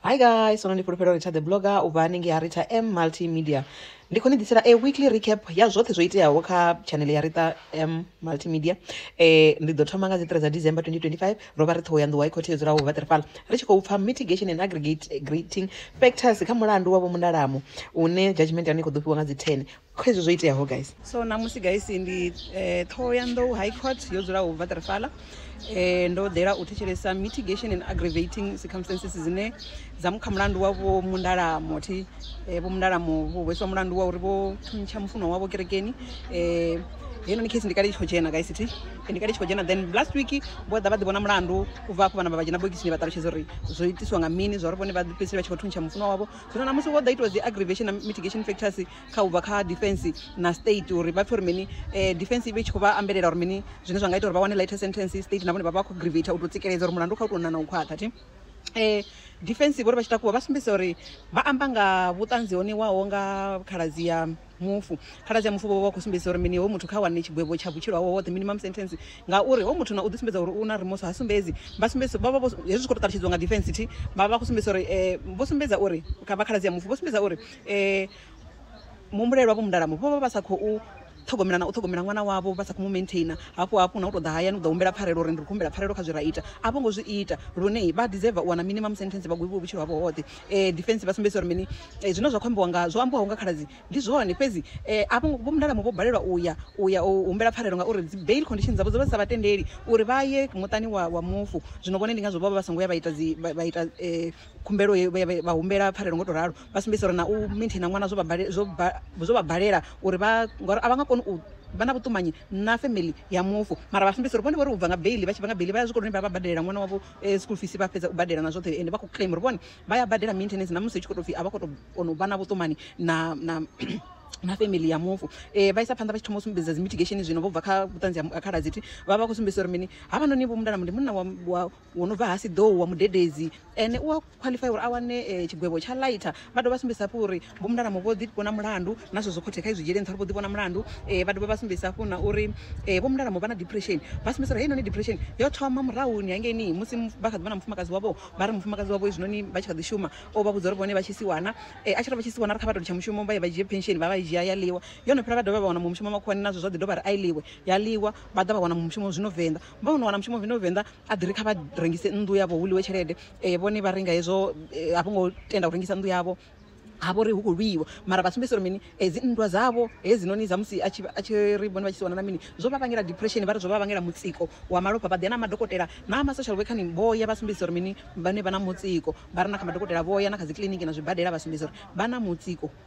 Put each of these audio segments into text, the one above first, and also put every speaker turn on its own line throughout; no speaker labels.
hi guys sono ndi fhulufhelo rita the blogger u bva hanengei ha rita m multimedia ndi khou ni ḓisela a weekly recap ya zwoṱhe zwo iteaho kha channel ya rita m multimedia eh ndi ḓo thoma nga dzi 3 dza december 2025 ro vha ri ṱhoho ya nḓuwa i khothe yo dzulaho vha ṱirifala ri tshi khou pfa mitigation and aggregating factors kha mulandu wa vho mundalamo une judgment ya hone i khou ḓo fhiwa nga dzi 10 kha izwi zwo iteaho guys so namusi guys ndi eh, ṱhoho ya nḓou high court yo dzulaho bva trifala eh, ndo ḓela u thetshelesa mitigation and aggravating circumstances dzine dza mu kha mulandu wa vho mundalamo thi eh, vho mundalamo vho hweswa mulandu wa uri vho thuntsha mufuno wavho kerekeni eh, heinoni case ndi kale i tshi khou dzhena guys thi ndi kale i tshi khou dzhena then last week vho ḓa vha ḓi vhona mulandu u bva afho vhana vha vha dzhena bokisini vha ṱalutshedza uri zwo itiswa nga mini zwa uri vhone vha fhedziseli vha tshi khou thuntsha mufuno wavho zwino na musi ho ḓa itiwa dzi aggravation na mitigation factors kha ubva kha defense na state uri vha pfhe uri mini eh, defense i vhe tshi khou vha ambelela uri mini zwine zwa nga ita uri vha wane lighter sentence state na vhone vha vha khou grivata u tou tsikeledza uri mulandu kha u tou nana u khwaṱha thi eh defense vhori vha tshi takuwa vha sumbedzisa uri vha amba nga vhuṱanzi ho ṋewaho nga khaladzi ya mufu. Khaladzi ya mufu vho vha vha khou sumbedzisa uri mini? Hoyu muthu kha wane tshigwevho tsha vhutshilo hawe hoṱhe, minimum sentence, ngauri hoyu muthu na u ḓisumbedza uri u na remorse ha sumbedzi. Vha sumbedzisa, vha vha vho, hezwi zwi khou tou ṱalutshedziwa nga defence thi, vha vha vha khou sumbedzisa uri vho sumbedza uri, kha vha khaladzi ya mufu vho sumbedza uri muhumbulelwa vho Mundalamu vho vha vha sa khou ṱhogomela na u ṱhogomela ṅwana wavho, vha sa khou mu maintainer. Hafhu hafhu na u tou ḓa hayani u ḓa humbela pfarelo uri ndi khou humbela pfarelo kha zwe ra ita, a vho ngo zwi ita. Lune vha deserver u wana minimum sentence vha gwevhiwe vhutshilo havho hoṱhe. um defence vha sumbedzisa uri mini um zwine zwa khou ambiwa nga zwo ambiwaho nga khaladzi ndi zwone fhedzi um a vho vho mundalamu vho balelwa uya uya u humbela pfarelo ngauri dzi bail condition dzavho dzo vha dzi sa vha tendeli uri vha ye muṱani wa wa mufu zwino vhone ndi ngazwo vho vha vha songo ya vha ita dzi vha ita um khumbelo ye vha humbela pfarelo ngo to ralo vha sumbedzisa uri na u maintaina ṅwana zwo vha zwo zwo vha balela uri vha ngori a vha nga koni u vha na vhuṱumanyi na family ya mufu mara vha sumbedzisa uri vhone vho ri u bva nga bail vha tshi bva nga bail vha ya zwikoloni vha vha badelela ṅwana wavho school fees vha fhedza u badela na zwoṱhe ende vha khou claim uri vhone vha ya badela maintenance na musi hu tshi khou tou pfhi a vha khou tou kona u vha na vhuṱumani na na na family ya mufu eh vha isa phanḓa vha tshi thoma u sumbedza dzi mitigation zwino vho bva kha vhuṱanzi ha khala dzithi vha vha khou sumbedzisa uri mini havha noni vho mundana ndi munna wa wa wo no bva ha siḓou wa mudededzi ene u a qualify uri a wane tshigwevho tsha lighter vha dovha vha sumbedzisa hafhu uri vho mulalamu vho ḓi vhona mulandu na zwezwo khothe kha i zwi dzhiele nṱha uri vho ḓi vhona mulandu vha dovha vha sumbedzisa hafhu na uri vho mulalamu vha na depression vha sumbedzisa uri heinoni depression yo thoma murahuni hangeini musi vha kha ḓi vhona mufumakadzi wavho vha ri mufumakadzi wavho hezwinoni vha tshi kha ḓi shuma o vha vhudza uri vhone vha tshi si wana a tshi ri vha tshi si wana ri kha vha to litsha mushumo vha ye vha dzhie pension vha vha i dzhia ya ḽiwa yo no fhela vha dovha vha wana muṅwe mushumo makhuwani nazwo zwa ḓi dovha ri a i ḽiwe ya ḽiwa vha ḓa vha wana muṅwe mushumo zwino venḓa vha wana wana mushumo vino venḓa a ḓi ri kha vha rengise nnḓu yavho hu ḽiwe tshelede vhone vha renga hezwo a vho ngo tenda u rengisa nnḓu yavho ha vhori hu khou lwiwa mara vha sumbedzisa uri mini dzi nndwa dzavho hedzinoni dza musi a tshi ri vhone vha tshi si wana na mini zwo vha vhangela depression vha ri zwo vha vhangela mutsiko wa malofha vha ḓi ya na madokotela na ma social worker vho ya vha sumbedzisa uri mini vhane vha na mutsiko vha re na kha madokotela vho ya na kha dzi kiḽiniki na zwibadela vha sumbedzisa uri vha na mutsiko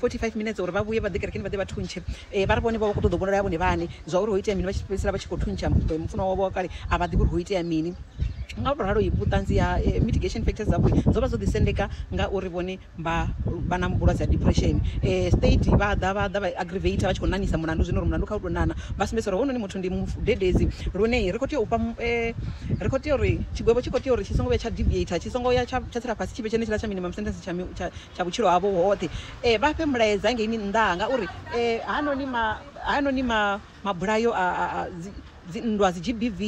45 minetse uri vha vhuye vha ḓe kerekeni vha ḓe vha thuntshe um vha ri vhone vha vha khou ṱoḓa u vhonala ya vhone vhaṋe zwa uri ho itea mini vha tshi fhedzisela vha tshi khou thuntsha mufunwa wavho wa kale a vha ḓivhi uri ho itea mini nga u tou ralo vhuṱanzi ha mitigation factors dzavho dzo vha dzo ḓisendeka ngauri vhone vha vha na vhulwadze ha depression um state vha ḓa vha ḓa vha aggravator vha tshi khou ṋaṋisa mulandu zwino uri mulandu kha u tou ṋaṋa vha sumbedzisa uri hounoni muthu ndi mudededzi lune ri khou tea u fha um ri khou tea uri tshigwevho tshi khou tea uri tshi songo vhuya tsha deviator tshi songo ya tsha tsha tsela fhasi tshi vhe tshenetshiḽa tsha minimum sentence tsha tsha Tsha vhutshilo havho hoṱhe. Vha fhe mulaedza ngeini nnḓa ha nga uri hanoni ma, hanoni ma, mabulayo a, a, a dzi, dzi nndwa, dzi GBV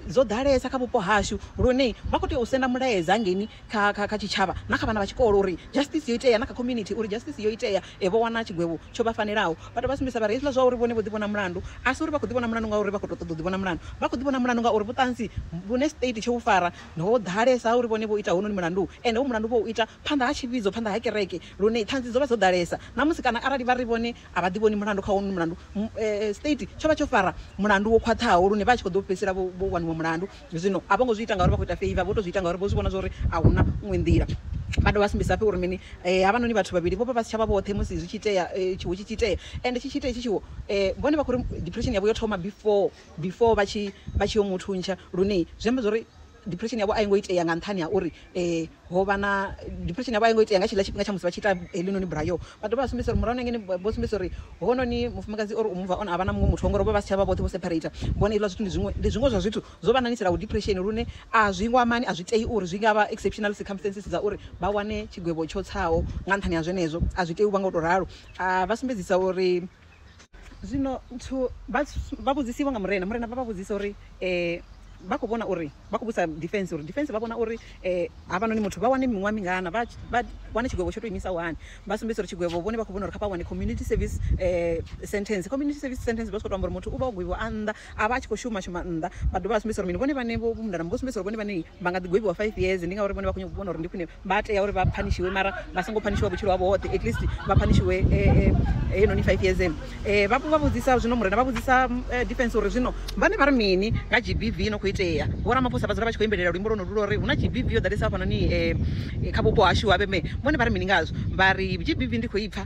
dzo ḓalesa kha vhupo hashu lune vha khou tea u senda mulaedza ngeini kha, kha, kha tshitshavha na kha vhana vha tshikolo uri justice yo itea na kha community uri justice yo itea, vho wana tshigwevho tsho vha fanelaho. Vha dovha vha sumbedzisa vha ri hezwiḽa zwa uri vhone vho ḓivhona mulandu a si uri vha khou ḓivhona mulandu ngauri vha khou tou ṱoḓa u ḓivhona mulandu, vha khou ḓivhona mulandu ngauri vhuṱanzi vhune state tsho vhu fara Ho ḓalesa uri vhone vho ita hounoni mulandu, ende u mulandu vho u ita phanḓa ha tshivhidzo, phanḓa ha kereke, lune ṱhanzi dzo vha dzo ḓalesa. Ṋamusi, kana arali vha ri vhone a vha ḓivhoni mulandu kha hounoni mulandu, state tsho vha tsho fara mulandu wo khwaṱhaho lune vha tshi khou ḓo fhedzisela vho vho waniwa mulandu. Zwino a vho ngo zwi ita ngauri vha khou ita favour, vho tou zwi ita ngauri vho zwi vhona zwa uri a hu na iṅwe nḓila. Vha dovha vha sumbedzisafhi uri mini? Havhanoni vhathu vhavhili vho vha vha si tsha vha vhoṱhe musi zwi tshi itea, tshiwo tshi tshi itea. Ende tshi tshi itea hetshi tshiwo, vhone vha khou ri depression yavho yo thoma before. before vha tshi vha tshi yo mu thuntsha lune zwi amba zwori depression yavho a i ngo itea nga nṱhani ha uri ho vha na depression yavho a i ngo itea nga tshiḽa tshifhinga tsha musi vha tshi ita heḽinoni bulayo vha dovha vha sumbedzisa uri murahu na ngene vho sumbedzisa uri hounoni mufumakadzi or u move on a vha na muṅwe muthu ngori vho vha si tsha vha vhoṱhe vho separate vhone hezwiḽa zwithu ndi zwiṅwe ndi zwiṅwe zwa zwithu zwo vha ṋaṋisanaho depression lune a zwi ngo amani a zwi tei uri zwi ngavha exceptional circumstances dza uri vha wane tshigwevho tsho tsaho nga nṱhani ha zwenezwo a zwi tei u vha nga u to ralo a vha sumbedzisa uri zwino vha vhudzisiwa nga murena murena vha vha vhudzisa uri um vha khou vhona uri vha khou vhusa defense uri defense vha vhona uri um havhanoni muthu vha wane miṅwaha mingana vha wane tshigwevho tsho to imisa hani vha sumbedzisa uri tshigwevho vhone vha khou vhona uri kha vha wane community service um sentence community service sentence vha tshi kho to amba uri muthu u vha o gwevhiwa a nnḓa a vha a tshi khou shuma shuma nnḓa vha dovha vha sumbedzisa uri mini vhone vhane vho mundana vho sumbedzisa uri vhone vhane vha nga ḓi gwevhiwa five years ndi ngauri vhone vha khou vhona uri ndi khwine vha tea uri vha phanishiwe mara vha songo phanishiwa vhutshilo havho hoṱhe at least vha phanishiwe heinoni five years eno vha vha vhudzisa zwino murena vha vhudzisa defense uri zwino vhane vha ri mini nga g b v no khou itea vho ramaphosa vha dzula vha tshi khou imbelela luimbo lwo no lula uri hu na g b v yo ḓalesa hafhanoni kha vhupo hashu ha vheme vhone vha ri mini ngazwo vha ri g b v ndi khou ipfa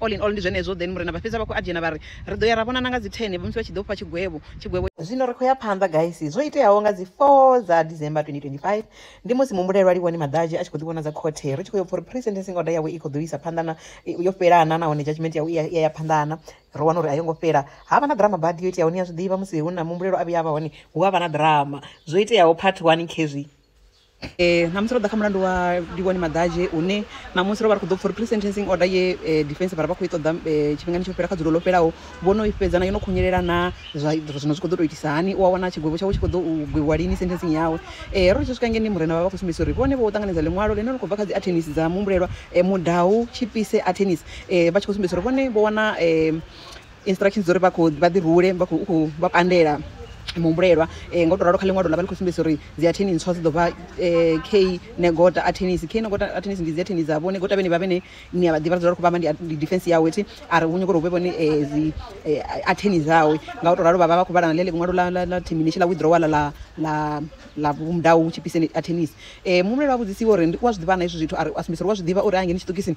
All in all ndi zwenezwo. Then Murena vha fhedza vha khou adzhena vha ri, Ri ḓo ya ra vhonana nga dzi 10 musi vha tshi ḓo fha tshigwevho. Tshigwevho. Zwino ri khou ya phanḓa guys. Zwo iteaho nga dzi 4 dza December 2025, ndi musi muhumbulelwa Liwoni Maḓadzhe a tshi khou ḓi vhonadza khothe. Ri tshi khou yo pfa uri pre-sentencing order yawe i khou ḓo isa phanḓa na, yo fhela na nahone judgement yawe i ya, i ya ya phanḓa na. Ro wana uri a yo ngo fhela. Ha vha na ḓirama badi yo iteaho. Ni a zwi ḓivha musi hu na muhumbulelwa a vhuya a vha hone hu a vha na ḓirama. Zwo iteaho part one khezwi. Ṋamusi ro ḓa kha mulandu wa Livhuwani Maḓadzhe une ṋamusi ro vha ri khou ḓo pfha uri pre-sentencing order ye defence vha ri vha khou i ṱoḓa tshifhingani tsho fhela kha dzulo ḽo fhelaho vho no i fhedza na yo no khunyelela na zwa zwino zwi khou ḓo tou itisa hani u a wana tshigwevho tshawe tshi khou ḓo gwevhiwa lini sentencing yawe. Ro ri tshi swika ngei murena vha vha khou sumbedzisa uri vhone vho ṱanganedza ḽiṅwalo ḽine ḽa khou bva kha dzi attorneys dza muhumbulelwa Mudau, Tshipise attorneys vha tshi khou sumbedzisa uri vhone vho wana instructions dza uri vha khou vha ḓi rule vha khou khou vha pandela muhumbulelwa um ngo to ralo kha ḽiṅwalo ḽa vha ḽi khou sumbedzisa uri dzi atheni ntswa dzi ḓo vha um k negota athenis k negota athenis ndi dzi atheni dza vho negota vhene vha vhene ni a vha ḓivha dzula ri khou vha amba ndi defense yawe thi a ri vhu nyoko uri hu vhe vhone um dzi atheni dzawe nga u to ralo vha vha vha khou vhala na ḽe ḽiṅwalo ḽa termination ḽa withdrawal ḽa ḽa ḽa mudau hu tshipise athenis um muhumbulelwa a vhudzisiwa uri ndi u a zwi ḓivha na hezwi zwithu a ri a sumbedzisa uri u a zwi ḓivha uri a ngeni tshiṱokisini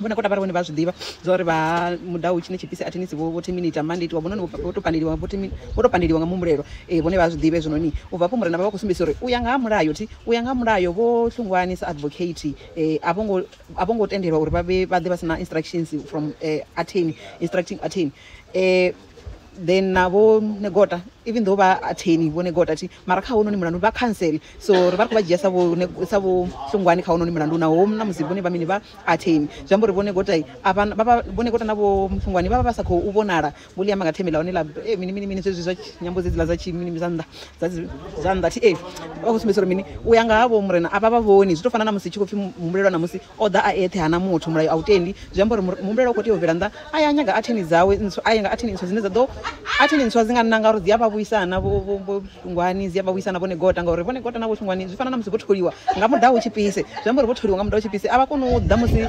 vhona kota vha ri vhone vha zwi ḓivha zwa uri vha mudau tshine tshipisi athini si vho thi mini ita mani itiwa vhononi vho to pandeliwa vho thimi vho to pandeliwa nga muhumbulelo ee vhone vha zwi ḓivha hezwinoni u bva afho murena vha vha khou sumbedzisa uri u ya nga ha mulayo thi u ya nga ha mulayo vho hlungwani sa advocate ee a vho ngo a vho ngo tendelwa uri vha vhe vha ḓe vha si na instructions from atheni instructing atheni ee then na vho negota even though vha attorney vho negota thi mara kha hononi mulandu vha cancel so ri vha ri khou vha dzhia sa vho sa vho hlungwani kha hononi mulandu naho na musi vhone vha mini vha attorney zwi amba uri vho negota a vha vha vho negota na vho hlungwani vha vha vha sa khou vhonala vho ḽi amba nga themela hone la eh, mini mini mini zwezwi zwa nyambo dzedziḽa dza tshi mini zwa nnḓa dza dzi- zwa nnḓa thi eh vha khou sumbedzisa uri mini u ya nga ha vho murena a vha vha vhoni zwi tou fana na musi tshi khou pfhi muhumbulelwa na musi O ḓa a eṱhe, ha na muthu, mulayo a u tendi. Zwi amba uri muhumbulelwa u khou tea u bvela nnḓa a ya a nyaga atheni dzawe ntswa, a ya nga atheni ntswa dzine dza ḓo, atheni ntswa dzi nga nanga uri dzi a vha vhuisa na vho, vho, vho Shungwani, dzi a vha vhuisa na vho Negota, ngauri vho Negota na vho Shungwani zwi fana na musi vho tholiwa nga muḓaho hu tshipise. Zwi amba uri vho tholiwa nga muḓaho hu tshipise, a vha koni u ḓa musi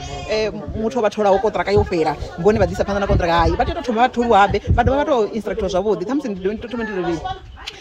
muthu o vha tholaho konṱiraka yo fhela vhone vha ḓi isa phanḓa na konṱiraka. Hai, vha tea u tou thoma vha tholiwa habe, vha dovha vha tou instructiwa zwavhuḓi, ṱhamusi ndi ḓo thoma ndi tou lini.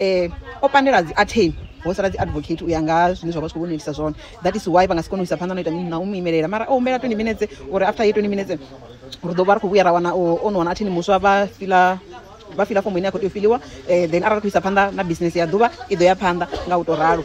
um o pandela dzi atheni ho sala dzi advocate u ya nga ha zwine zwa vha zwi khou vhonelisa zwone that is why vha nga si kone u isa phanḓa no ita mini na u mu imelela mara o humbela 20 minutes uri after ye 20 minutes ri ḓo vha ri khou vhuya ra wana o no wana athini muswa vha fila vha fila fomo ine ya khou tea u filiwa um then arali ri khou isa phanḓa na business ya ḓuvha i ḓo ya phanḓa nga u tou ralo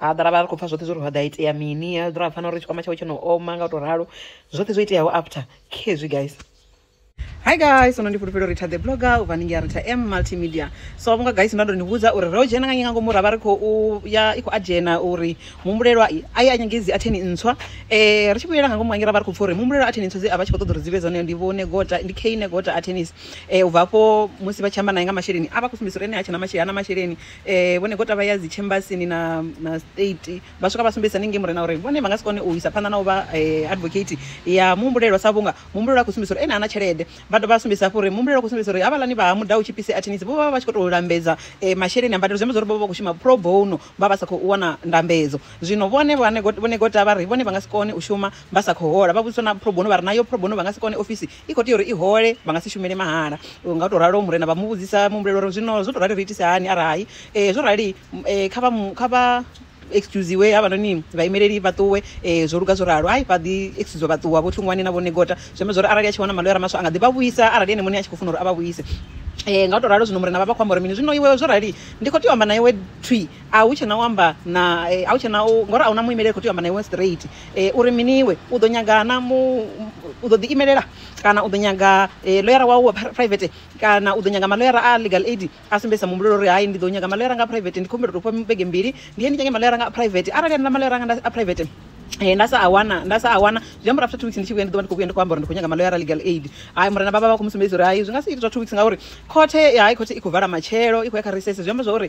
ha ḓala vha ri khou pfa zwoṱhe zwo ri ḓa itea mini a ḓira pfana uri tshikwama tshawe tsho no oma nga u tou ralo zwoṱhe zwo iteaho after khezwi guys hi guys sono ndi fhulufhelo rita the blogger u bva ningi ya rita m multimedia so vhunga guys nda ndo ni vhudza uri ro dzhena nga nyinga ngomu ra vha ri khou ya i khou adzhena uri muhumbulelwa a ye a nyangedzi atheni ntswa um ri tshi vhuyela nga ngomu hangi ra vha ri khou pfa uri muhumbulelwa atheni ntswa dze a vha tshi khou ṱoḓa uri dzi vhe dzone ndi vhone gota ndi kane gota athenis um eh, u bva afho musi vha tshi amba naye nga masheleni a vha khou sumbedzisa uri ene a tshena masheleni ana masheleni vhone gota vha ya dzi chambasini na na state vha swika vha sumbedzisa ningei murena uri vhone vha nga si kone u isa phanḓa na u vha advocate ya muhumbulelwa sa vhunga muhumbulelwa a khou sumbedzisa uri ene ana tshelede vha dovha vha sumbedzisa hafhu uri muhumbulelwa a khou sumbedzisa uri havhaḽani vha ha mudau tshipisi attorneys vho vha vha tshi khou tou lambedza masheleni a mbadelo zwi amba zwa uri vho vha vha khou shuma pro bono vha vha sa khou wana ndambedzo zwino vhone vhane vhone gota vha ri vhone vha nga si kone u shuma vha sa khou hola vha vhudziswa na pro bono vha ri nayo pro bono vha nga si kone ofisi i khou tea uri i hole vha nga si shumele mahala nga u tou ralo murena vha mu vhudzisa muhumbulela uri zwino zwo tou rali ri itise hani arali um zwo rali kha vha kha vha excusiwe havhanoni vhaimeleli vha ṱuwe um zwo luga zwo ralo hai vha ḓi excusiwa vha ṱuwa vho tlungwani na vho negota zwi amba zwa uri arali a tshi wana maḽoyara maswa a nga ḓi vha vhuisa arali ene muṋe a tshi khou funa uri a vha vhuise um nga u tou ralo zwino murena vha vha khou amba uri mini zwino iwe zwo rali ndi khou tea u amba na iwe thwi A hu tshena u amba na a hu tshena u ngori a huna muimeleli a kho tea u amba na iwe straight uri mini iwe u ḓo nyaga na mu u ḓo ḓi imelela kana u ḓo nyaga ḽoyara wau wa private kana u ḓo nyaga maḽoyara a legal aid a sumbedzisa muhumbulo uri hai ndi ḓo nyaga maḽoyara nga private ndi kho humbela u to fha vhege mbili ndi ye ndi nyage maḽoyara nga private arali haneaḽa maḽoyara anga a private nda sa a wana nda sa a wana zwi amba uri after two weeks ndi tshi vhuya ndi ḓo vha ndi kho vhuya ndi kho amba uri ndi kho nyaga maḽoyara legal aid hai murena vhavha vha kho mu sumbedzisa uri hai zwi nga si ite zwa two weeks ngauri khothe hai khothe i kho vala matshelo i khou ya kha recess zwi amba zwori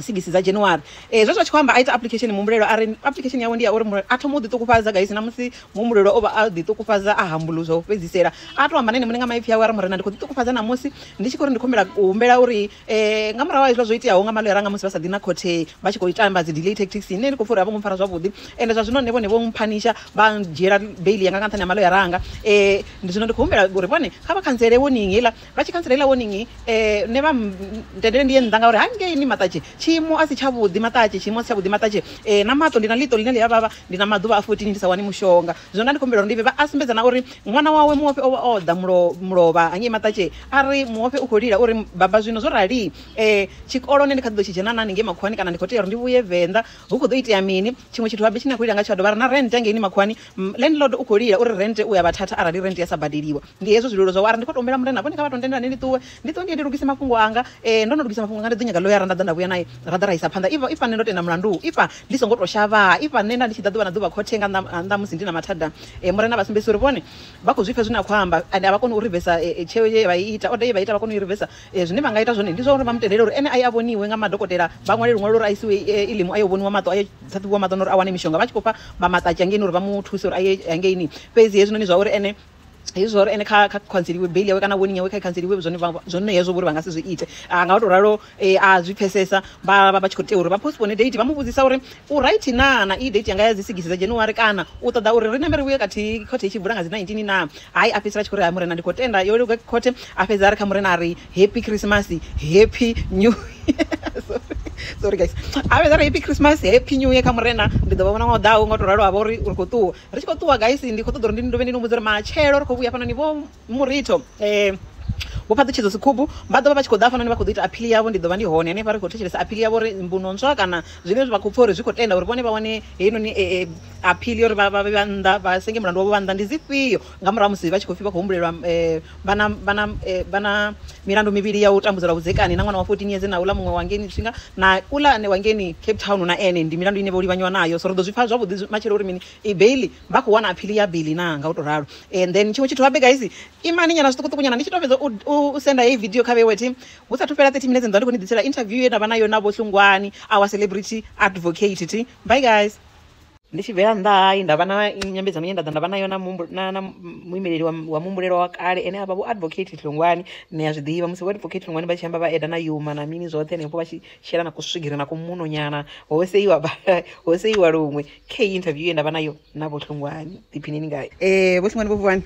sigisi dza January eh zwezwa tshi khou amba a ita application muhumbulelo a ri application yawe ndi ya uri a thoma u ḓi ṱukufhadza guys na musi muhumbulelo o vha a ḓi ṱukufhadza a hambulu zwa u fhedzisela a to amba na ene muṋe nga maipfi awe a ri murena ndi khou ḓi ṱukufhadza na musi ndi tshi khou ri ndi khombela u humbela uri eh nga murahu ha izwo zwo iteaho nga malo yanga musi vha sa ḓi na khothe vha tshi khou tamba dzi delay tactics ine ndi khou pfha uri a vho ngo mpfara zwavhuḓi ende zwa zwino nṋe vhone vho mphanisha vha dzhiela bail yanga nga nṱhani ha malo yanga eh ndi zwino ndi khou humbela uri vhone kha vha khantsele warning heiḽa Vha tshi khantsela heiḽa warning nṋe vha ntendele ndi ye nnḓa ngauri hangeini maṱatshi tshiimo a si tshavhuḓi maṱatshi tshiimo a si tshavhuḓi maṱatshi eh, na maṱo ndi na ḽiṱo ḽine ḽi a vhavha ndi na maḓuvha a 14 ndi sa wani mushonga zwino nda ndi khou humbela uri ndi vhe vha a sumbedza na uri ṅwana wawe muofhe o vha o ḓa mulo mulovha hangei maṱatshi a ri muofhe u khou lila uri baba zwino zwo rali eh, tshikolo nṋe ndi kha ḓi ḓo tshi dzhena na haningei makhuwani kana ndi khou tea uri ndi vhuye venḓa hu khou ḓo itea mini tshiṅwe tshithu habe tshine a khou lila nga tsho a dovha a ri na rent hangeini makhuwani Landlord u khou lila uri rente u ya vha thatha arali rente ya sa badeliwa. Ndi hezwo zwililo zwawe a ri, Ndi khou tou humbela murena vhone kha vha tou ntendela ni ndi ṱuwe. Ndi ṱuwe ndi ye ndi lugise mafhungo anga. Ee, ndo no lugisa mafhungo anga, ndi ḓo nyaga ḽoyara nda ḓa nda vhuya nae ra ḓa ra isa phanḓa. If nṋe ndo tenda mulandu u itwa ndi songo tou shavhaa, if nṋe nda ndi tshi ḓa ḓuvha na ḓuvha khothe nga nnḓa ha musi ndi na mathada, murena a vha sumbedzisa uri vhone vha khou zwi pfa zwine a khou amba and a vha koni u rivesa tsheo ye vha i ita, order ye vha i ita a vha koni u i rivesa. Zwine vha nga ita zwone ndi zwa uri vha mu tendele uri ene a ye a vhoniwe nga madokotela, vha ṅwale luṅwalo uri a isiwe Elim a yo vhoniwa maṱo, a yo ṱhaṱhuvhiwa maṱo na uri a wane mishonga vha tshi khou fha vha maṱaki hangeini uri vha mu thuse uri a ye hangeini. Fhedzi hezwinoni zwa uri ene hezwi zwa uri ene kha kha khantseliwe beili yawe kana warning yawe kha i khantseliwe zwone zwone hezwo vhori vha nga si zwi ite a nga to ralo a zwi pfesesa vha vha vha tshi khou tea uri vha postpone date vha mu vhudzisa uri u right naa na iyi date yanga ya dzi sigisi dza January kana u ṱoḓa uri ri ṋambe ri vhuye khathihi khothe i tshi vula nga dzi nineteen naa Hai, a fhedzisela a tshi khou ri, Hai Murena, ndi khou tenda, yo luga khothe. A fhedza a ri kha Murena a ri, Happy Khirisimasi, Happy New Year. Sorry, sorry guys. A fhedza a ri, Happy Khirisimasi, Happy New Year kha Murena, ndi ḓo vha vhona ṅwaha u ḓaho. Nga u tou ralo ha vha uri ri khou ṱuwa. Ri tshi khou ṱuwa guys, ndi khou ṱoḓa uri ndi ni dovhe ndi ni humbudze uri matshelo ri khou vhuya hafhanoni vho Muritho, Vho Phaṱutshedzo Sikhumbu vha ḓo vha vha tshi khou ḓa hafhanoni vha khou ḓo ita aphili yavho. Ndi ḓo vha ndi hone hanefha ri khou thetshelesa aphili yavho uri mbuno ntswa kana zwine vha khou pfha uri zwi khou tenda uri vhone vha wane heinoni. aphili uri vha vhe vha nnḓa vha senge mulandu wavho vha nnḓa ndi dzifhio nga murahu musi vha tshi khou pfhi vha khou humbulelwa eh, vha na vha na eh, vha na milandu mivhili ya u tambudzelwa vhudzekani na ṅwana wa 14 years na uḽa muṅwe wa ngeni tshinga na uḽa ane wa ngeni Cape Town na ene ndi milandu ine vho livhanyiwa nayo so ri ḓo zwi pfha zwavhuḓi zwi- matshelo uri mini i bail vha khou wana aphili ya bail na nga u to ralo and then tshiṅwe tshithu habe guys imani nyana zwiṱukuṱuku nyana ndi tshi to fhedza u- u u senda heyi video kha vhewe thi hu sathu fhela 30 minutes nda ndi khou ni ḓisela interview ye nda vha nayo na vho Hlungwani our celebrity advocate thi bye guys ndi tshi bvela nnḓa hayi nda vha na nyambedzano ine nda ḓa nda vha nayo na na muimeleli wa muhumbulelwa wa kale ene a vha vho advocate ṱhongwani ni a zwi ḓivha musi vho advocate ṱhongwani vha tshi amba vha eda na yuma na mini zwoṱhe henefho vha tshi shela na kuswigiri na kumuno nyana ho seiwa ho seiwa luṅwe kha interview ye nda vha nayo na vho ṱhongwani ḓiphinini ngayo eh vho ṱhongwani vho vuwani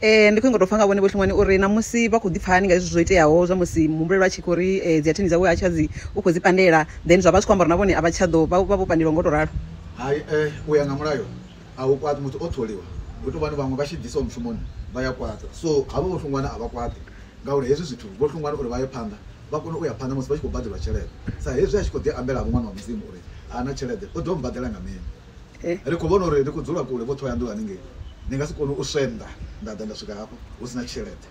Ee, ndi khou nyanga u tou pfha nga vhone Vho Hlongwane uri ṋamusi vha khou ḓi pfha hani nga hezwi zwo iteaho zwa musi muhumbulelo a tshi khou ri eh, dzi atheni dzawe ha tsha dzi u khou dzi pandela then zwa vha zwi khou amba uri na vhone a vha tsha ḓo vha vha vho pandeliwa ngo tou ralo. Hai, eh, u ya nga mulayo a hu kwaṱi muthu o tholiwa, hu tou vha ni vhaṅwe vha tshi bvisiwa mushumoni vha ya kwaṱa. So havho Vho Hlongwane a vha kwaṱi ngauri hezwi zwithu Vho Hlongwane uri vha ye phanḓa vha kone u ya phanḓa musi vha tshi khou badelwa tshelede sa hezwi a tshi khou ḓi ambela-vho Ṅwana wa Mudzimu uri ha na tshelede u ḓo mmbadela nga mini. eh. ri khou vhona uri ri khou dzula kule vho ṱhohoyanḓou haningei ndi nga si kone u swenda nda ḓa nda swika hafho hu si na tshelede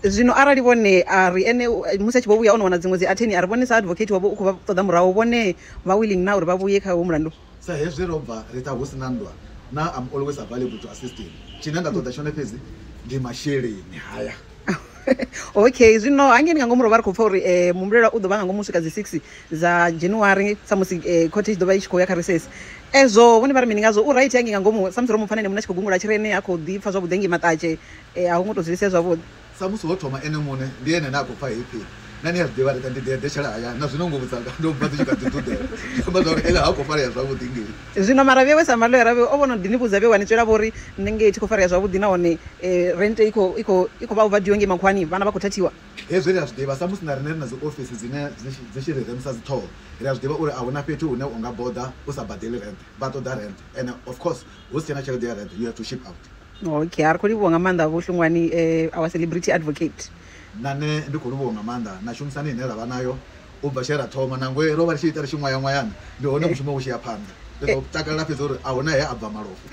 zwino arali vhone a ri ene musi a tshi vho vhuya o no wana dziṅwe dzi atheni a ri vhone sa advocate wavho u khou vha ṱoḓa murahu vhone vha willing na uri vha vhuye kha wo mulandu sa hezwi ro bva ri ṱha hu si na nndwa na am always available to assisting tshine nda ṱoḓa tshone fhedzi ndi masheleni haya okay zwino hangeni nga ngomu ro vha ri khou pfa uri um muhumbulela u ḓo vha nga ngomu swika dzi six dza january samusi um eh, khothe i tshi ḓo vha i tshi khou ya kha reses ezwo vhone vha ri mini ngazwo u right hangei nga ngomu samusi ro mu pfa na ene muṋe a tshi khou gungula tshirene ha khou ḓi pfa zwavhuḓi hangei maṱatshe um a hu ngo tou zwi lisia zwavhuḓi samusi ho thoma ene muṋe ndi ene ne a khou pfa heipfhi Na ni a zwi ḓivha, ri ḓa, ndi ḓo eḓetshela hayani. Na zwino nguvho dzanga ndo bva dzi tshi kha ḓi ḓuḓela. Zwi amba zwa uri Ella ha khou farea zwavhuḓi ngei. Zwino maravhi awe sa maḽoyara awe o vha o no ḓi ni vhudza vhe wa ni tswela, vho ri, Nṋe ngei thi khou farea zwavhuḓi nahone rente i khou, i khou, i khou vha overdue ngei makhuwani. Vhana vha khou thathiwa. Hezwi ri a zwi ḓivha, samusi na riṋe ri na dziofisi dzine dzi, dzi tshi ri remisa dziṱhoho, ri a zwi ḓivha uri a hu na fhethu hune u nga boḓa u sa badeli rente. Vha ṱoḓa rente. Ene, of course, hu si tshena tshelede ya rente, you have to ship out. Okay, a ri khou livhuwa nga maanḓa Vho Hlungwani, our celebrity advocate. Nṋe ndi khou livhuwa nga maanḓa na tshumisano ine ra vha nayo u bva tshe ra thoma. Nangwe ro vha ri tshi ita ri tshi ṅwaya-ṅwayana, ndi hone mushumo vhu tshi ya phanḓa. Ndi ḓo takalela fhedzi uri a hu na he a bva malofha.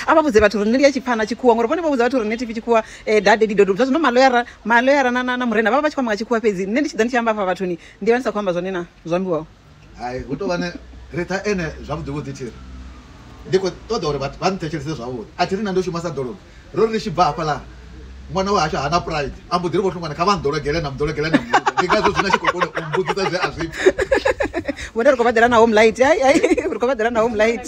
A vha vhudze vhathu uri ni lia tshipfana tshikhuwa ngori vhone vho vhudza vhathu uri nṋe thi pfi tshikhuwa da daddy do do. Zwa zwino maloyara maloyara na na na murena vha vha vha tshi khou amba nga tshikhuwa fhedzi nṋe ndi tshi ḓa ndi tshi amba hafha vhathuni ndi vha ndi sa khou amba zwone na zwo ambiwaho. Hai, hu tou vha na Ritha ene zwavhuḓivhuḓi thi ri, Ndi khou ṱoḓa uri vhathu vha nthetshelese zwavhuḓi. A thi ri na ndo shuma sa ḓolomi. Ro ri ri tshi bva hafhaḽa, ṅwana wahashu ha na pride, a mbo ḓi ri, Vho Hlongwane, kha vha nḓologele, na mu ḓologela na mu vhudza. Ndi ngazwo zwino a tshi khou kona u mmbudza zwe a zwi pfa. Vhone ri khou vha ḓela na home light. Hai, hai, ri khou vha ḓela na home light.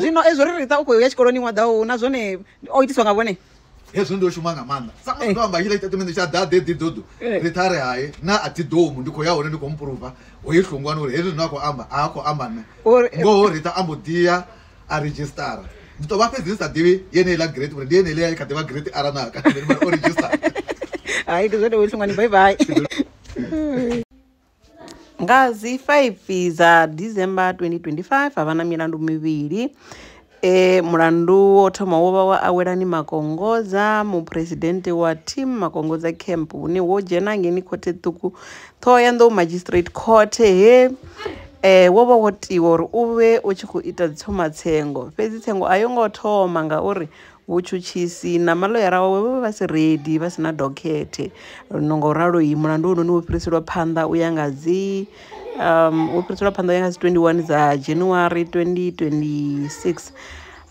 Zwino ezwo ri Ritha u khou ya tshikoloni ṅwaḓa uhu na zwone o itiswa nga vhone. hezwi ndo shuma nga maanḓa samusi ndo amba tshila tshitatimende tsha ḓa ḓe ḓidodo ri ṱhare hae na a dzidomu ndi khou ya hone ndi khou mupruva hoyi hlungwani uri hezwi zwine a khou amba a a khou amba nṋe ngoho rita a mbo ḓiya a registara ndi tou vha fhedzi ndi sa ḓivhi yeneiḽa grade uri ndi yeneiḽa i kha ḓivha grade ara na kana o registara hai ndi zwone hoyi hlungwani bye bye Nga dzi 5 dza December 2025, ha vha na milandu mivhili. E, mulandu wo thoma wo vha wa Awelani Makongodza, muphuresidennde wa Team Makongodza Camp, une wo dzhena ngeni khothe ṱhukhu Thohoyandou Magistrate Court he eh wo vha wo tiwa uri u vhe u tshi khou ita dzi tshomatsengo fhedzi tsengo a yo ngo thoma ngauri Vhutshutshisi na maḽoyara wawe vho vha vha si redi, vha si na dokhethe. Ngo ralo, mulandu hounoni wo fhiriselwa phanḓa u ya nga dzi um wo fhiriselwa phanḓa u ya nga dzi 21 dza January 2026.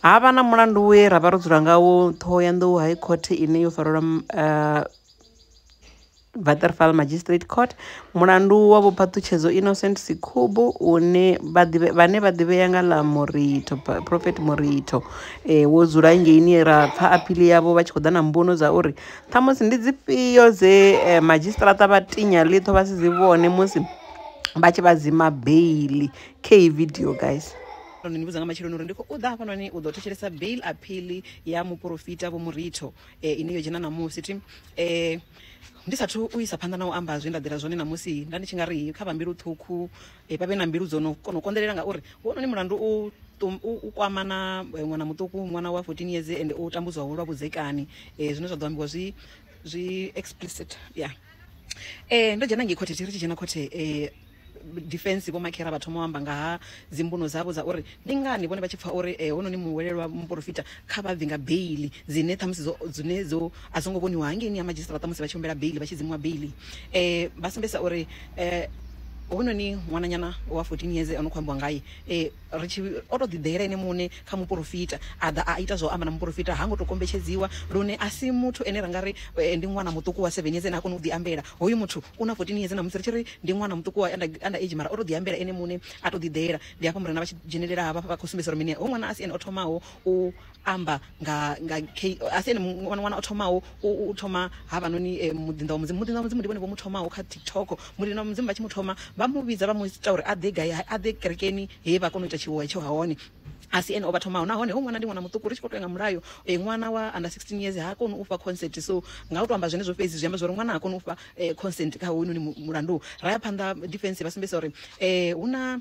Ha vha na mulandu we ra vha ro dzula ngawo Ṱhohoyanḓou High Court ine yo farelwa Waterval Magistrate Court mulandu wa Vho Phaṱhutshedzo Innocent Sikhubu une vha ḓivhe vhane vha ḓivhea nga ḽa Moritho Prophet Moritho eh wo dzula ngeini ra pfa aphili yavho vha tshi khou ḓa na mbuno dza uri ṱhamusi ndi dzifhio dze eh, madzhisiṱaraṱa vha tinya ḽiṱho vha si dzi vhone musi vha tshi vha dzima beili khe iyi video guys ni vhudza nga matsheloni uri ndi khou ḓa hafhanoni u ḓo thetshelesa bail aphili ya muporofita vho muritho eh, ine yo dzhena ṋamusi thi eh, Ndi sa athu u isa phanḓa na u amba zwe nda ḓela zwone ṋamusi, nda ndi tshi nga ri kha vha mbilu ṱhukhu vha vhe na mbilu dzo no kona u konḓelela ngauri hounoni mulandu u u kwama na ṅwana muṱuku, ṅwana wa 14 years ende o tambudzwaho lwa vhudzekani zwine zwa ḓo ambiwa zwi zwi explicit ya. Ndo dzhena ngei khothe ri tshi dzhena khothe. Defence Vho Makhera vha thoma u amba nga ha dzimbuno dzavho dza uri ndi ngani vhone vha tshi pfa uri hononi muhwelelwa muporofita kha vha bve nga beiḽi dzine ṱhamusi dzo dzine dzo a songo vhoniwa hangeini ha madzhisiṱaraṱa musi vha tshi humbela beiḽi vha tshi dzimuwa beiḽi vha sumbedzisa uri hononi ṅwananyana wa 14 yeze o no kho ambiwa ngaye. Ri tshi, o tou ḓiḓela ene muṋe kha muporofita, a ḓa a ita zwa u amba na muporofita. Ha ngo tou kombetshedziwa, lune a si muthu ane ra nga ri ndi ṅwana muṱuku wa seveni yeze ane ha koni u ḓiambela. Hoyu muthu u na fourteen yeze ṋamusi, ri tshi ri ndi ṅwana muṱuku wa under, under age, mara o tou ḓiambela ene muṋe, a tou ḓiḓela. Ndi hafha Murena vha tshi dzhenelela hafha, vha khou sumbedzisa uri mini, hoyu ṅwana a si ene o thomaho u amba nga nga asi ene ṅwana wana o thomaho u thoma havhanoni eh, muḓinḓa wa mudzimu muḓinḓa wa mudzimu ndi vhone vho mu thomaho kha tiktok muḓinḓa wa mudzimu vha tshi mu thoma vha mu vhidza vha mu ita uri a ḓe gai a ḓe kerekeni he vha kona u ita tshiwo hetsho ha hone asi ene o vha thomaho nahone ho ṅwana ndi ṅwana muṱuku ri tshi khou tou nga mulayo eh, ṅwana wa under 16 years ha koni u fha consent so nga u to amba zwenezwo fhedzi zwi amba zwa uri ṅwana ha koni u fha eh, consent kha hoyunoni mulandu ra ya phanḓa defense vha sumbedzisa uri um hu na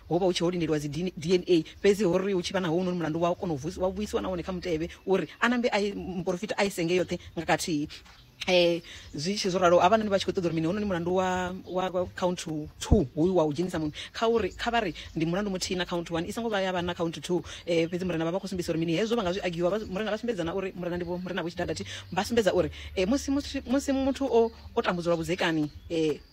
Ho vha hu tshi ho lindeliwa dzi DNA, fhedzi ho ri hu tshi vha na hounoni mulandu wa kona u wa vhuisiwa nahone kha mutevhe uri a nambe a ye muporofita a ye senge yoṱhe nga kathihi. Zwi tshi zwo ralo havhanoni vha tshi khou ṱoḓa uri mini hounoni mulandu wa wa count two hoyu wa u dzhenisa muṅwe kha uri kha vha ri ndi mulandu muthihi na count one i songo vha ya vha na count two fhedzi murena vha vha khou sumbedzisa uri mini hezwo vha nga zwi agiwa vha murena vha sumbedza na uri murena ndi vho murena vho tshidadathi vha sumbedza uri musi musi musi muthu o o tambudzwa lwa vhudzekani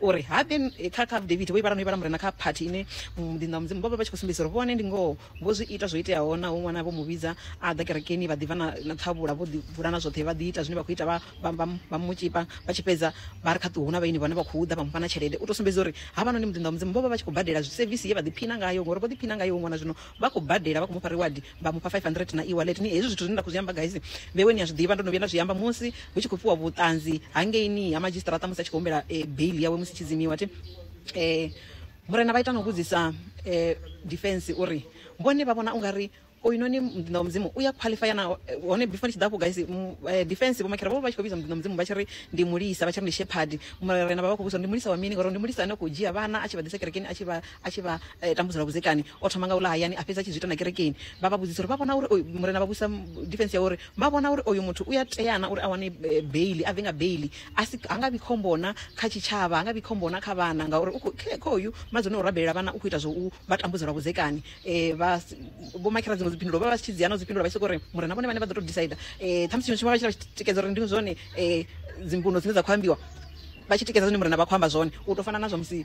uri habe kha kha Davidi vho ivhala no ivhala murena kha phathi ine muḓinḓa wa mudzimu vho vha vha tshi khou sumbedzisa uri vhone ndi ngoho vho zwi ita zwo iteaho naho ṅwana vho mu vhidza a ḓa kerekeni vha ḓivha na, na ṱhavhula vho ḓivhula na zwoṱhe vha ḓi ita zwine vha khou ita vha, vha, vha, vha mu tshipa vha tshi fhedza vha ri kha ṱuwe hu na vhaini vhane vha khou ḓa vha mu fha na tshelede u tou sumbedza uri havhanoni muḓinḓa wa mudzimu vho vha vha tshi khou badela sevisi ye vha ḓiphina ngayo ngori vho ḓiphina ngayo ṅwana zwino vha khou badela vha khou mu fha reward vha mufha 500 na e-wallet ni hezwi zwithu zwine nda khou zwi amba guys vhewe ni a zwi ḓivha ndo no vhuya nda zwi amba musi hu tshi khou fhiwa vhuṱanzi hangeini ha madzhisiṱaraṱa musi a tshi khou humbela eh, bail yawe musi tshidzimiwa thi eh murena vha ita no vhudzisa eh defense uri vhone vha vhona ungari oyinoni muḓinḓa wa mudzimu uya qualifya na eh, hone before ni tshi ḓa afho guys eh, defense vhomakhera vho vha tshi khou vhidza muḓinḓa wa mudzimu vha tshi ri ndi mulisa vha tshi ri ndi shepherd murena vha vha khou vhudzisa ndi mulisa wa mini ngori ndi mulisa ane khou dzhia vhana a tshi vha ḓisa kerekeni a tshi vha a tshi vha tambudza lwa vhudzekani, o thoma nga u ḽa hayani a fhedza a tshi zwi ita na kerekeni. Vha vha vhudzisa uri vha vhona uri oyu, Murena vha vhudzisa defense yavho uri vha vhona uri oyu muthu u ya tea na uri a wane beiḽi, a bve nga beiḽi, a si, ha nga vhi khombo na kha tshitshavha, ha nga vhi khombo na kha vhana ngauri u khou, kha hoyu mmadzone o rabelela vhana u khou ita zwa u vha tambudza lwa vhudzekani. Vha, Vho Makhira dziṅwe dzi phindulo vho vha vha tshi dzhia na u dzi phindulo vha tshi sokou ri Murena vhone vhaṋe vha ḓo tou decider. Ṱhamusi tshiṅwe tshifhinga vha tshi ita vha tshi tikedza uri ndi zwone dzi mbuno dzine dza khou ambiwa, vha tshi tikedza zwine Murena vha khou amba zwone, u tou fana na zwa musi.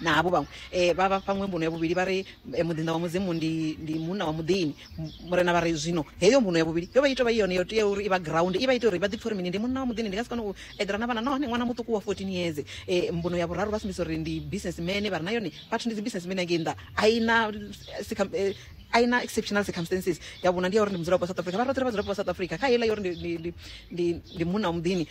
Na havho vhaṅwe vha vha fha ṅwe mbuno ya vhuvhili vha ri, Muḓinḓa wa Mudzimu ndi ndi munna wa muḓini. Murena vha ri, Zwino heyo mbuno ya vhuvhili yo vha i tou vha i yone yo teaho uri i vha ground, i vha ite uri vha ḓipfe uri mini? Ndi munna wa muḓini, ndi nga si kone u eḓela na vhana nahone ṅwana muṱuku wa 14 years. Mbuno ya vhuraru vha sumbedzisa uri ndi businessman, vha ri na yone vhathu ndi dzi businessman ya ngei nnḓa, a i na a i na exceptional circumstances. Ya vhuṋa ndi ya uri ndi mudzulapo wa South Africa. Vha ri, Roṱhe ri vhadzulapo vha South Africa. Kha heiḽa ya uri ndi ndi ndi ndi ndi munna wa muḓini,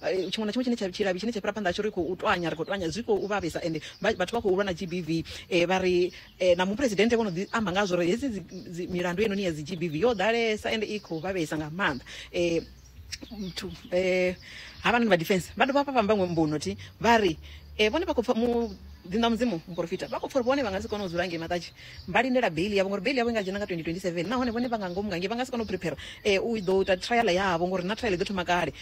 tshiṅwe na tshiṅwe tshine tsha tshilavhi tshine tsha fhira phanḓa tsho ri khou twanya ri khou twanya zwi khou vhavhesa ende vhathu vha khou lwa na GBV eh, vha ri eh, na muphuresidennde vho no ḓi amba ngazwo uri hedzi milandu heinoni ya dzi GBV yo ḓalesa ende i khou vhavhesa nga maanḓa eh, muthu eh havhanoni vha defense vha dovha vha vhamba ṅwe mbuno thi vha ri eh vhone vha khou pfa mu ḓinḓa mudzimu muporofita vha khou pfa uri vhone vha nga si kone u dzula ngei maṱatshi vha lindela beiḽi yavho ngori beiḽi yavho i nga dzhena nga 2027 nahone vhone vha nga ngomu ngangei vha nga si kone u prepare u ḓo ita trial yavho ngori na trial i ḓo thoma kale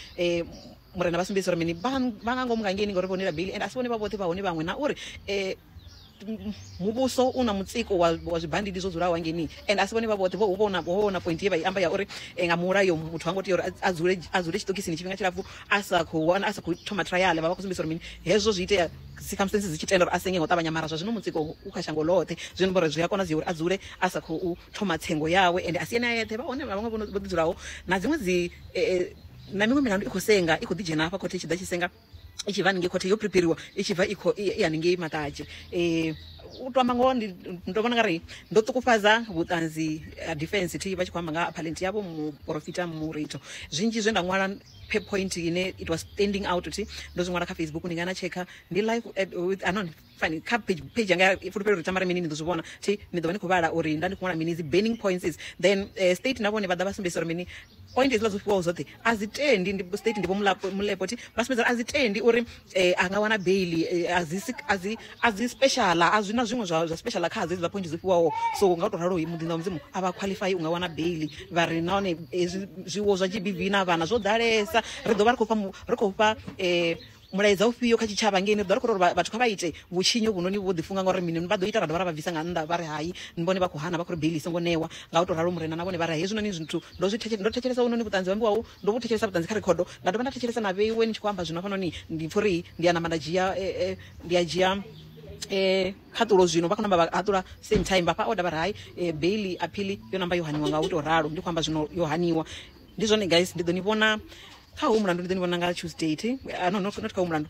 murena vha sumbedzisa uri mini vha nga ngomu ngangei ngori vho nela beiḽi and a si vhone vha vhoṱhe vha hone vhaṅwe na uri muvhuso u na mutsiko wa wa zwibandidi zwo dzulaho hangeini and a si vhone vha vhoṱhe vho vhona vho vhona point ye vha i amba ya uri nga mulayo muthu ha ngo tea uri a dzule a dzule tshiṱokisini tshifhinga tshilapfhu a sa khou wana a sa khou thoma trial vha vha khou sumbedzisa uri mini hezwo zwi itea Circumstances dzi tshi tenda uri a senge nga u ṱavhanya, mara zwa zwino mutsiko u kha shango ḽoṱhe, zwi amba uri zwi a konadzea uri a dzule a sa khou thoma tsengo yawe. Ende a si ene a eṱhe, vha hone na vhaṅwe vho ḓi dzulaho na dziṅwe dzi na miṅwe milandu i khou senga i khou ḓi dzhena hafha khothe i tshi ḓa tshi senga i tshi bva haningei khothe yo preperiwa i tshi bva i kho i haningei Maṱadzhe. U to amba ngoho ndi ndi to vhona nga ri ndo ṱukufhadza vhuṱanzi ha defence thi vha tshi kho amba nga ha appellant yavho muporofita Muritho zwinzhi zwe nda ṅwala. per point ine it was standing out kuti ndo zwi ṅwala kha facebook ndi nga na tshekha ndi live at, with anon fani kha page page yanga fulufhelo uri tamara mini ni ḓo zwi vhona thi ni ḓo vha ni khou vhala uri nda ndi khou ṅwala mini dzi burning points is then uh, state na vhone vha ḓa vha sumbedzisa uri mini point hezwiḽa zwo fhiwaho zwoṱhe a zwi tendi ndi state ndi vho mulepo thi vha sumbedza a zwi tendi uri eh a nga wana baiḽi a dzi a dzi a dzi special a zwi na zwiṅwe zwa zwa special kha dzi dzi point dzo fhiwaho so nga u to ralo muḓini wa mudzimu a vha qualify u nga wana baiḽi vha ri nahone zwiwo zwa GBV na vhana zwo ḓalesa ri ḓo vha ri khou fha ri khou fha eh mulaedza ufhio kha tshitshavha ngei ni ḓo ri khou ri vhathu kha vha ite vhutshinyi uvhunoni vho ḓifunga ngauri mini vha ḓo ita ra dovha ra vha bvisa nga nnḓa vha ri hai ni vhone vha khou hana vha khou ri beili songo ṋewa nga u tou ralo murena na vhone vha ri hezwinoni zwithu ndo zwi ndo thetshelesa uvhunoni vhuṱanzi ho ambiwaho Ndo vhu thetshelesa vhuṱanzi kha rekhodo, nda dovha nda thetshelesa na vheiwe ni tshi khou amba zwino hafhanoni. Ndi pfa uri ndi a namba nda dzhia, ndi a dzhia khaṱulo zwino. Vha khou namba vha haṱula same time, vhafha order vha ri hai beiḽi, aphiḽi yo namba yo haniwa nga u tou ralo. Ndi khou amba zwino yo haniwa. Ndi zwone guys, ndi ḓo ni vhona kha hoyu mulandu, ndi ḓo ni vhona nga Tuesday thi, no, not kha hoyu mulandu.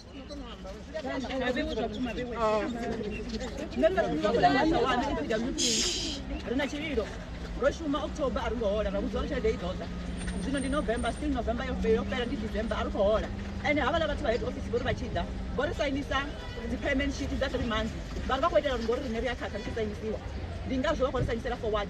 ri na tshililo ro shuma october a ri ngo hola ra vhudziwa tshelede i ḓoḓa zwino ndi november still november yo yo fhela ndi december a ri khou hola ende havhala vhathu vha head office vhori vha tshi ḓa vho ri sainisa dzi payment sheet dza three months vhari vha khou itela uri ngori rine ri a khakha ri tshi sainisiwa ndi ngazwo vha khou ri sainisela forward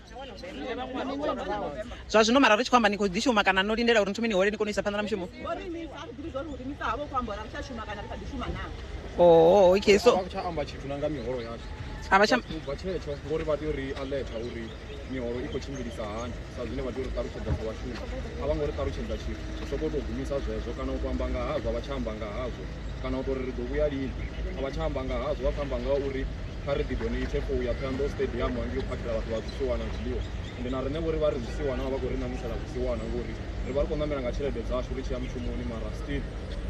zwa zwino mara ri tshi khou amba ni khou ḓi shuma kana no lindela uri ni thome ni hole ni kone u isa phanḓa na mushumo oo okay so tsha amba tshithu na nga miholo yashu a vha tsha ubva tshetsho ngori vha tea uri alerta uri miholo i khou tshimbilisa hani sa zwine vha tea uri ṱalutshedza sa vhashumi a vha ngo ri ṱalutshedza tshithu zwi soko tou gumisa zwezwo kana u to amba nga hazwo a vha tsha amba nga hazwo kana u to ri ri ḓo vhuya lini a vha tsha amba nga hazwo vha khou amba nga uri kha ri ḓi donate for uya Thohoyandou stadium hangei u phakhela vhathu vha zwisiwana zwiḽiwa ende na riṋe vho ri vha ri zwisiwana vha vha khou ri ṋamusela zwisiwana ngori ri vha ri khou ṋamela nga tshelede dzashu ri tshi ya mushumoni mara still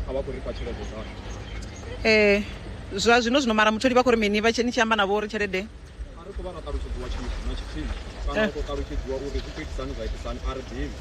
a vha khou ri fha tshelede dzashu eh zwa zwino zwino mara mutholi vha khou ri mini vha tsheni tshi amba navho uri tshelede a ri khou vha ra ṱalutshedziwa tshithu na tshithihi kana u tou ṱalutshedziwa uri zwi khou itisani zwa itisani a ri ḓivhi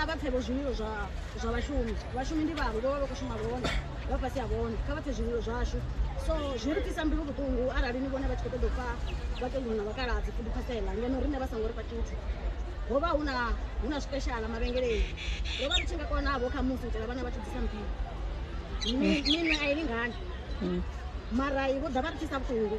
a vha pfe vho zwililo zwa zwa vhashumi vhashumi ndi vhavho vho vha vha khou shuma vhone vha fhasi ha vhone kha vha pfe zwililo zwashu so zwi ri fhisa mbilu vhuṱungu arali ni vhone vha tshi khou ṱoḓa u pfa vhakegulu na vhakaladzi futhi phasela ngeno riṋe vha songo ri fha tshithu ho vha hu na hu na zwipeshala mavhengeleni ro vha ri tshi nga konavho kha musi u itela vhana vha tshi bvisa mbilu minwe a i lingani mara i vho ḓa vha ri fhisa vhuṱungu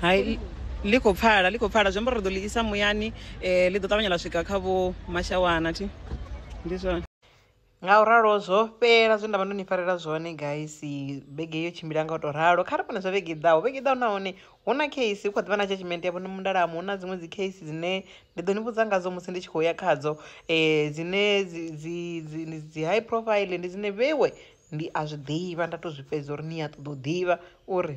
hai ḽi khou pfala ḽi khou pfala zwi amba uri ri ḓo ḽi isa muyani um ḽi ḓo ṱavhanya ḽa swika kha vho mashawana thi ndi zwone nga u ralo zwo fhela zwe nda vha ndo ni farela zwone guys vhege yo tshimbila nga u tou ralo kha ri vhone zwa vhege i ḓaho vhege i ḓaho nahone hu na case hu kha ḓivha na judgment ya vhone mundalamo hu na dziṅwe dzi case dzine ndi ḓo ni vhudza ngadzo musi ndi tshi khou ya khadzo um dzine dzi high profile ndi dzine vhewe ndi a zwi ḓivha nda to zwi fhedza uri ni a ṱoḓa u ḓivha uri